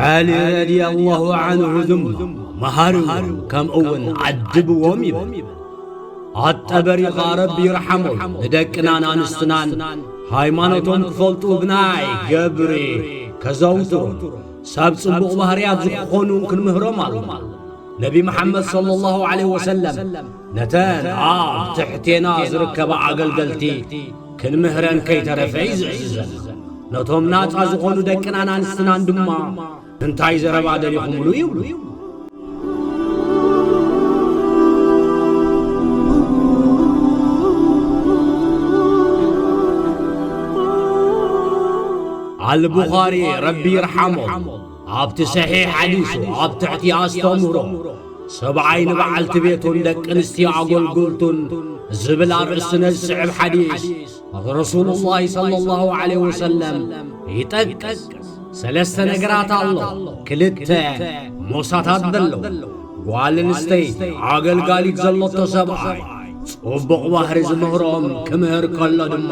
ዓሊ ረድየላሁ ዓንሁ ድማ መሃርዎም ከምኡውን ዓድብዎም ይብል ኣጠበሪኻ ረቢ ይርሓሞ ንደቅናን ኣንስትናን ሃይማኖቶም ክፈልጡ ብናይ ገብሪ ከዘውትሩን ሰብ ጽቡቕ ባህርያት ዝኾኑ ክንምህሮም ኣሎና ነቢ መሓመድ صለ ላሁ ለ ወሰለም ነተን ኣብ ትሕቴና ዝርከባ ኣገልገልቲ ክንምህረን ከይተረፈ ይዝእዝዘና። ነቶም ናጻ ዝኾኑ ደቅናን ኣንስትናን ድማ እንታይ ዘረባ ደሊኹምሉ ይብሉ። ኣልቡኻሪ ረቢ ይርሓሞ። ኣብቲ ሰሒሕ ሓዲሱ ኣብ ትሕቲ ኣስተምህሮ ሰብኣይ ንበዓልቲ ቤቱን ደቂ ኣንስትዮ ኣጎልጉልቱን ዝብል ኣርእስቲ ነዚ ዝስዕብ ሓዲስ ረሱሉ ላሂ ሰለ ላሁ ዓለይሂ ወሰለም ይጠቅስ። ሰለስተ ነገራት ኣሎ ክልተ ሞሳታት ዘለዉ ጓል ኣንስተይቲ ኣገልጋሊት ዘለቶ ሰብኣይ ጽቡቕ ባህሪ ዝምህሮም ክምህር ከሎ ድማ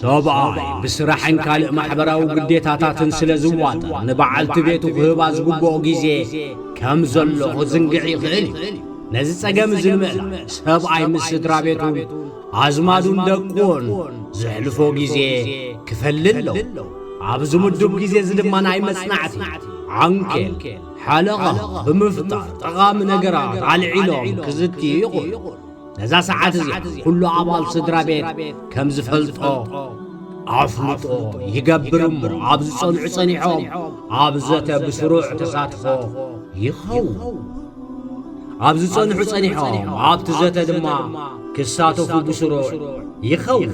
ሰብኣይ ብስራሕን ካልእ ማሕበራዊ ግዴታታትን ስለ ዝዋጠር ንበዓልቲ ቤቱ ክህባ ዝግብኦ ግዜ ከም ዘሎ ክዝንግዕ ይኽእል እዩ። ነዚ ጸገም እዚ ንምእላይ ሰብኣይ ምስ ስድራ ቤቱን ኣዝማዱን ደቁን ዘሕልፎ ግዜ ክፈሊ ኣለዎ። ኣብዚ ምዱብ ግዜ እዚ ድማ ናይ መጽናዕቲ ዓንኬል ሓለቓ ብምፍጣር ጠቓሚ ነገራት ኣልዒሎም ክዝትዩ ይኽእሉ። ነዛ ሰዓት እዚኣ ኩሉ ኣባል ስድራ ቤት ከም ዝፈልጦ ኣፍልጦ ይገብር እሞ ኣብ ዝጸንዑ ጸኒሖም ኣብ ዘተ ብስሩዕ ተሳትፎ ይኸውን። ኣብ ዝጸንሑ ጸኒሖም ኣብቲ ዘተ ድማ ክሳተፉ ብስሩዕ ይኸውን።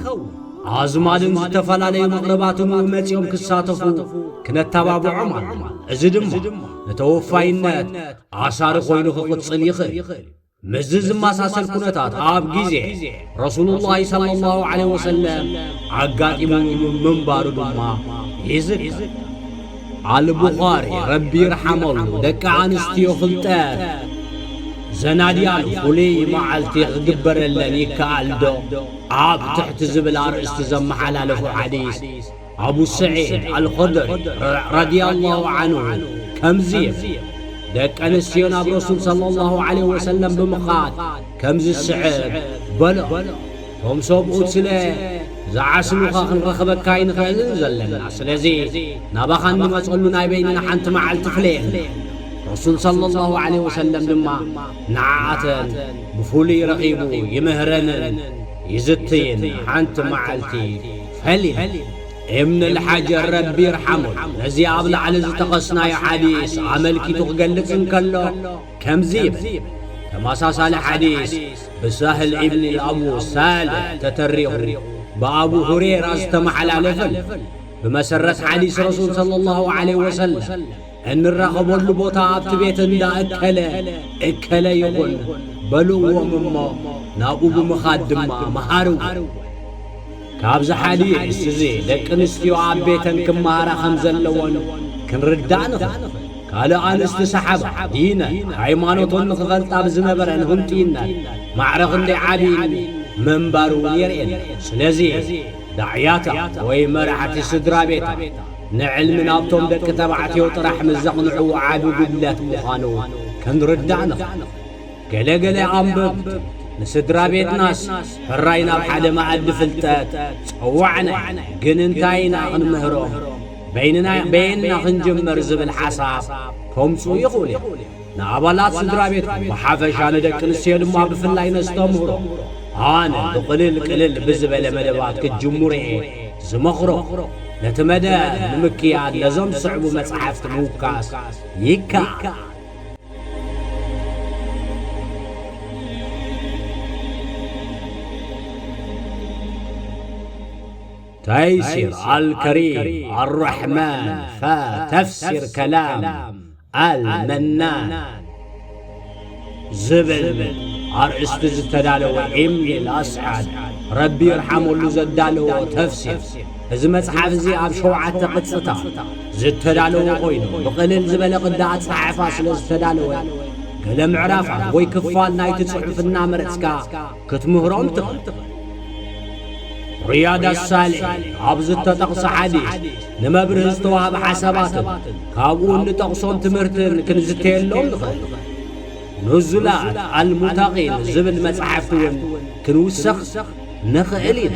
ኣዝማድን ዝተፈላለዩ መቕርባትን እውን መጺኦም ክሳተፉ ክነተባብዖም ኣለና። እዚ ድማ ንተወፋይነት ኣሳሪ ኮይኑ ክቕጽል ይኽእል እዩ። ምስዚ ዝመሳሰል ኩነታት ኣብ ግዜ ረሱሉላሂ ሰለላሁ ዓለይሂ ወሰለም ኣጋጢሙ ምንባሩ ድማ ይዝከር። ኣልቡኻሪ ረቢ ይርሓመሉ ደቂ ኣንስትዮ ፍልጠት ዘናድያሉ ፍሉይ መዓልቲ ክግበረለን ይከኣልዶ? ኣብ ትሕቲ ዝብል ኣርእስቲ ዘመሓላለፎ ሓዲስ ኣቡ ሰዒድ ኣልኹድሪ፣ ረዲየላሁ ዓንሁ፣ ከምዚ ይብል፣ ደቂ ኣንስትዮ ናብ ረሱል ሰለላሁ ዓለይሂ ወሰለም ብምኻድ ከምዚ ዝስዕብ በልኦ፣ እቶም ሰብኡት ስለ ዝዓስሉኻ ክንረኽበካ ኣይንኽእልን ዘለና፣ ስለዚ ናባኻ እንመጸሉ ናይ በይንና ሓንቲ መዓልቲ ፍለየልና። ረሱል ሰለላሁ ዓለይሂ ወሰለም ድማ፣ ንዓኣተን ብፍሉይ ረኺቡ ይምህረንን ይዝትይን ሓንቲ መዓልቲ ፈሊም እብን ልሓጀር ረቢ ይርሓሙን ነዚ ኣብ ላዕሊ ዝተኸስናዮ ሓዲስ ኣመልኪቱ ክገልጽ እንከሎ ከምዚ ይብል ተመሳሳሊ ሓዲስ ብሳህል እብን ልኣቡ ሳልሕ ተተሪኹ ብኣቡ ሁሬራ ዝተመሓላለፍን ብመሰረት ሓዲስ ረሱል ሰለላሁ ዓለይሂ ወሰለም እንራኸበሉ ቦታ ኣብቲ ቤት እንዳ እከለ እከለ ይኹን በልዎም እሞ ናብኡ ብምኻድ ድማ መሃርዎ። ካብዚ ሓሊዩ እየስ እዚ ደቂ ኣንስትዮ ኣብ ቤተን ክመሃራ ከም ዘለወን ክንርዳእ ንኽእል። ካልእ ኣንስቲ ሰሓባ ዲነን ሃይማኖቶን ንኽፈልጣ ብዝነበረን ህንጡይነት ማዕረ ክንደይ ዓብዪ ምንባሩ እውን የርእየና። ስለዚ ዳዕያታ ወይ መራሕቲ ስድራቤታ ንዕልሚ ናብቶም ደቂ ተባዕትዮ ጥራሕ ምስ ዘቕንዑ ዓቢ ጉድለት ምዃኑ ክንርዳእ ንኽእል። ገለ ገለ ኣንበብቲ ንስድራቤትናስ ሕራይ ናብ ሓደ መኣዲ ፍልጠት ጸዋዕና ኢና፣ ግን እንታይ ኢና ክንምህሮም፣ በይንና በየንና ክንጅምር ዝብል ሓሳብ ከምጽኡ ይኽእሉ እዮም። ንኣባላት ስድራቤትኩም ብሓፈሻ ንደቂ ኣንስትዮ ድማ ብፍላይ ነስተምህሮ ኣነ ብቕልል ቅልል ብዝበለ መደባት ክትጅምሩ'የ ዝመኽሮ። ነቲ መደብ ንምክያድ ነዞም ዝስዕቡ መጻሕፍቲ ምውካስ ይከኣል። ተይሲር ኣልከሪም ኣልራሕማን ፍ ተፍሲር ከላም ኣልመናን ዝብል ኣርእስቲ ዝተዳለወ ኤምሊ ኣስዓድ ረቢ ይርሓመሉ ዘዳለዎ ተፍሲር እዚ መጽሓፍ እዚ ኣብ ሸውዓተ ቅጽታት ዝተዳለወ ኮይኑ ብቕልል ዝበለ ቅዲ ኣጸሓሕፋ ስለ ዝተዳለወ ገለ ምዕራፋት ወይ ክፋል ናይቲ ጽሑፍ እናመረጽካ ክትምህሮም ትኽእል። ሪያድ ኣሳሊሕ ኣብ ዝተጠቕሰ ሓዲስ ንመብርሂ ዝተዋህበ ሓሳባትን ካብኡ እንጠቕሶም ትምህርትን ክንዝተየሎም ንኽእል። ኑዙላት ኣልሙተቒን ዝብል መጽሓፍቲ እውን ክንውሰኽ ንኽእል ኢና።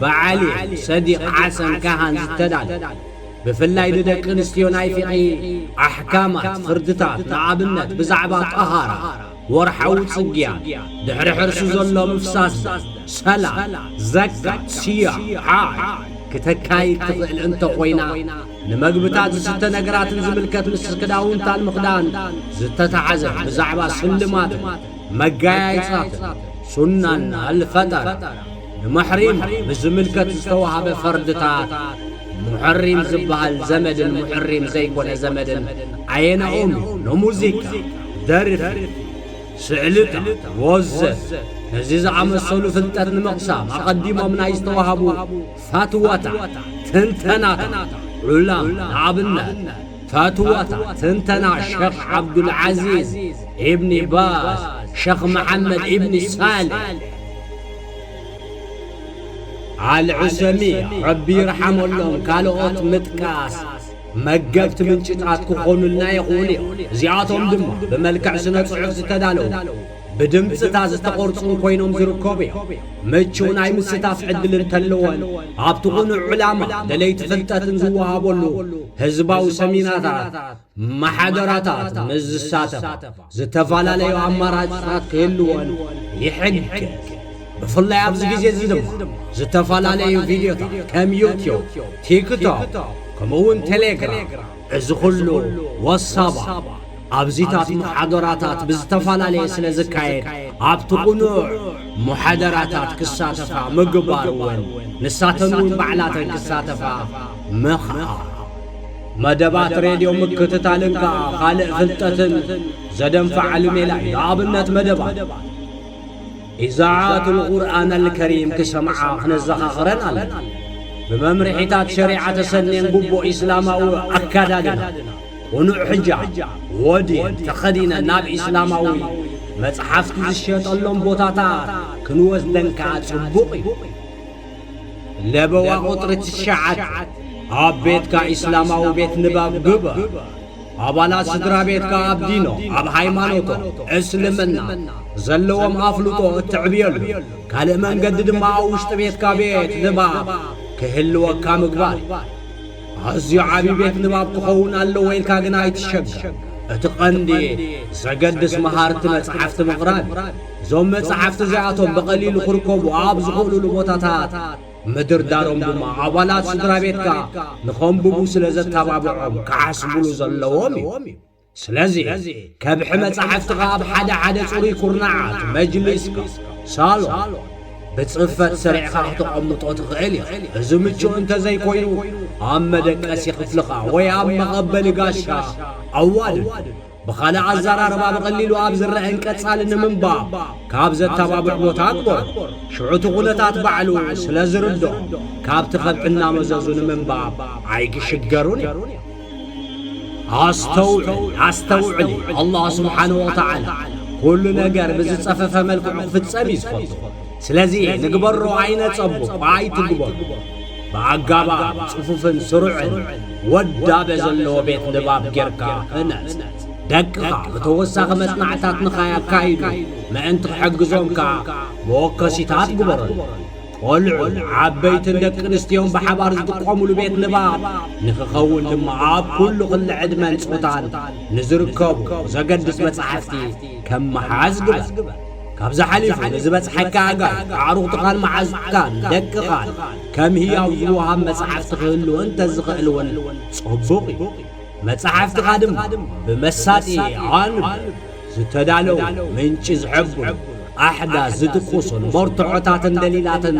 ብዓሊ ሰዲቕ ሓሰን ካሃን ዝተዳለወ፣ ብፍላይ ንደቂ ኣንስትዮ ናይ ፊቒ ኣሕካማት፣ ፍርድታት፣ ንኣብነት ብዛዕባ ጠሃራ፣ ወርሓዊ ጽግያት፣ ድሕሪ ሕርሲ ዘሎ ምፍሳስ ደም፣ ሰላት፣ ዘካት፣ ሲያም፣ ሓጅ፣ ክተካይድ ትኽእል እንተ ኾይና፣ ንመግብታት ዝስተ ነገራትን ዝምልከት ምስ ክዳውንታን ምኽዳን ዝተታሕዘ ብዛዕባ ስልማትን፣ መጋያይጻትን ሱናን ኣልፈጠራ ንመሕሪማ ብዝምልከት ዝተዋህበ ፈርድታት ሙሕሪም ዝበሃል ዘመድን ሙሕሪም ዘይኮነ ዘመድን ኣየነኦም እዩ ንሙዚቃ ደርፊ ስዕልታ ወዘተ ነዚ ዝኣመሰሉ ፍልጠት ንምቕሳም ኣቐዲሞም ናይ ዝተዋህቡ ፈትወታ ትንተናታ ዑላም ንኣብነት ፈትዋታት ትንተና ሸኽ ዓብዱልዓዚዝ ኢብኒ ባዝ ሸኽ መሓመድ ኢብኒ ሳልሕ ኣልዑሰሚያ ረቢ ይርሓመሎም ካልኦት ምጥቃስ መገብቲ ምንጭታት ክኾኑልና ይኽእሉ እዮም። እዚኣቶም ድማ ብመልክዕ ስነ ጽሑፍ ዝተዳለዉ ብድምጽታ ዝተቖርጹን ኮይኖም ዝርከቡ እዮም። ምቹው ናይ ምስታፍ ዕድል እንተለወን ኣብቲ ቕኑዕ ዕላማ ደለይቲ ፍልጠትን ዝወሃበሉ ህዝባዊ ሰሚናታት ማሕደራታት ምስ ዝሳተፋ ዝተፈላለዩ ኣማራጺታት ክህልወን ይሕግዝ። ብፍላይ ኣብዚ ግዜ እዚ ድማ ዝተፈላለዩ ቪድዮታት ከም ዩትዩብ፣ ቲክቶክ ከምኡ'ውን ቴሌግራም እዚ ኹሉ ወሳባ ኣብዚታት ሙሓዶራታት ብዝተፈላለየ ስለ ዝካየድ ኣብቲ ቁኑዕ ሙሐደራታት ክሳተፋ ምግባር እውን ንሳተን እውን ባዕላተን ክሳተፋ ምኽኣል። መደባት ሬድዮ ምክትታልን ከኣ ካልእ ፍልጠትን ዘደንፋዓሉ ሜላ እዩ። ንኣብነት መደባት። ኢዛዓት ኣልቁርኣን ኣልከሪም ክሰምዓ ክነዘኻኽረን ኣለና። ብመምርሒታት ሸሪዓ ተሰንየን ግቡእ ኢስላማዊ ኣከዳድና፣ ቅኑዕ ሕጃብ፣ ወዲን፣ ተኸዲነን ናብ ኢስላማዊ መጽሓፍቲ ዝሸጠሎም ቦታታት ክንወስደን ከኣ ጽቡቕ እዩ። ለበዋ ቁጽሪ ትሽዓተ ኣብ ቤትካ ኢስላማዊ ቤት ንባብ ግበር። ኣባላት ስድራቤትካ ኣብ ዲኖ፣ ኣብ ሃይማኖቶ፣ እስልምና፣ ዘለዎም ኣፍልጦ እትዕብየሉ ካልእ መንገዲ ድማ ኣብ ውሽጢ ቤትካ ቤት ንባብ ክህልወካ ምግባር እዩ። ኣዝዩ ዓቢ ቤት ንባብ ክኸውን ኣለዎ ኢልካ ግና ኣይትሸገር። እቲ ቀንዲ ዘገድስ መሃርቲ መጻሕፍቲ ምቕራብ እዩ። እዞም መጻሕፍቲ እዚኣቶም ብቐሊሉ ክርከቡ ኣብ ዝኽእሉሉ ቦታታት ምድርዳሮም ድማ ኣባላት ስድራቤትካ ንኸንብቡ ስለ ዘተባብዖም ክዓስቡሉ ዘለዎም እዩ። ስለዚ፣ ከብሒ መጻሕፍትኻ ኣብ ሓደ ሓደ ጽሩይ ኩርናዓት መጅሊስካ፣ ሳሎን፣ ብጽፈት ሰሪዕካ ክተቐምጦ ትኽእል ኢኻ። እዚ ምቹእ እንተ ዘይኮይኑ፣ ኣብ መደቀሲ ክፍልኻ ወይ ኣብ መቐበሊ ጋሻ ኣዋድድ። ብኻልእ ኣዘራርባ ብቐሊሉ ኣብ ዝረኣን ቀጻሊ ንምንባብ ካብ ዘተባብዕ ቦታ ኣግበሮ። ሽዑ እቲ ኩነታት ባዕሉ ስለ ዝርድኦም ካብቲ ከብሒ እናመዘዙ ንምንባብ ኣይግሽገሩን እዮም። ኣስተውዕል፣ ኣስተውዕሊ፣ ኣላህ ስብሓነሁ ወተዓላ ኩሉ ነገር ብዝጸፈፈ መልክዑ ክፍጸም እዩ ዝፈቱ። ስለዚ ንግበሮ ኣይነጸቦ እኳ ኣይትግበሩ፣ ብኣጋባብ ጽፉፍን ስሩዕን ወዳበ ዘለዎ ቤት ንባብ ጌርካ ህነጽ። ደቅኻ ብተወሳኺ መጽናዕትታት ንኸያካይዱ ምእንቲ ክሕግዞም ከኣ መወከሲታት ግበረሎም። ቆልዑን ዓበይትን ደቂ ኣንስትዮን ብሓባር ዝጥቀሙሉ ቤት ንባብ ንኽኸውን ድማ ኣብ ኩሉ ክሊ ዕድመን ጾታን ንዝርከቡ ዘገድስ መጻሕፍቲ ከም ምሓዝ ግበር። ካብዚ ሓሊፉ ንዝበጽሓካ ኣጋር ኣዕሩኽትኻን መዓዙትካን ደቅኻን ከም ህያው ዝወሃብ መጻሕፍቲ ክህሉ እንተ ዝኽእል እውን ጽቡቕ እዩ። መጻሕፍትኻ ድማ ብመሳጢ ኣዋንብ ዝተዳለዉ ምንጪ ዝሕብሩ ኣሕዳስ ዝድቁሱን መርትዖታትን ደሊላትን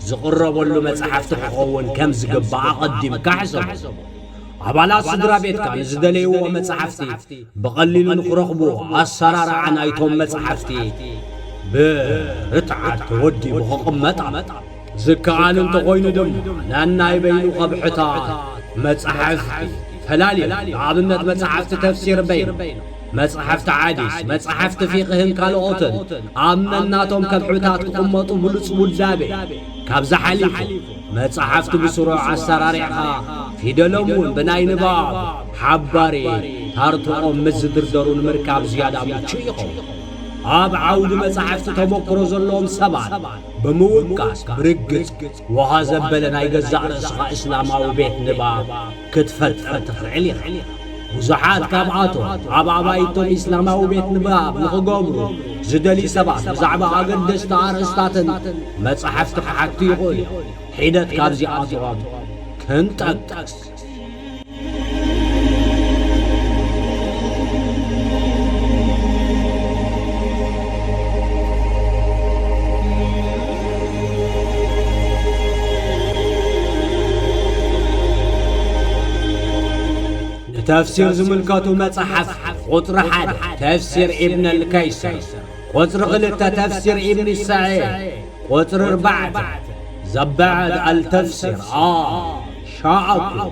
ዝቕረበሉ መጻሕፍቲ ክኸውን ከም ዝግባእ ኣቐዲምካ ሕሰቦ። ኣባላት ስድራ ቤትካ ንዝደለይዎ መጻሕፍቲ ብቐሊሉ ንኽረኽቡ ኣሰራርዓ ናይቶም መጻሕፍቲ ብርትዓት ተወዲቡ ክቕመጣ ዝከኣል እንተኾይኑ ድማ ነናይ በይኑ ከብሕታት መጻሕፍቲ ፈላሊና ንኣብነት መጻሕፍቲ ተፍሲር በይኑ መጻሕፍቲ ሓዲስ መጻሕፍቲ ፊቕህን ካልኦትን ኣብ ነናቶም ከብሕታት ክቕመጡ ብሉጽ ውዳቤ ካብዚ ሓሊፉ መጻሕፍቲ ብስሩዕ ኣሰራሪዕኻ ፊደሎም እውን ብናይ ንባብ ሓባሪ ታርትኦም ምስ ዝድርደሩ ንምርካብ ዝያዳ ምቹእ ይኸውን። ኣብ ዓውዲ መጻሕፍቲ ተሞክሮ ዘለዎም ሰባት ብምውቃስ ብርግጽ ወሃ ዘበለ ናይ ገዛእ ርእስኻ እስላማዊ ቤት ንባብ ክትፈጥር ትኽእል ኢኻ። ብዙሓት ካብኣቶም ኣብ ኣባይቶም ኢስላማዊ ቤት ንባብ ንኽገብሩ ዝደልዩ ሰባት ብዛዕባ ኣገደስቲ ኣርእስታትን መጻሕፍቲ ክሓቱ ይኽእሉ እዮም። ሒደት ካብዚኣቶም ክንጠቅስ። ንተፍሲር ዝምልከቱ መጻሕፍቲ ቁጽሪ ሓደ ተፍሲር ኢብን ኣልከይሰር፣ ቁጽሪ ክልተ ተፍሲር ኢብን ሰዒድ፣ ቁጽሪ ኣርባዕተ ዘባዕድ ኣልተፍሲር ኣል ሻኣኩ፣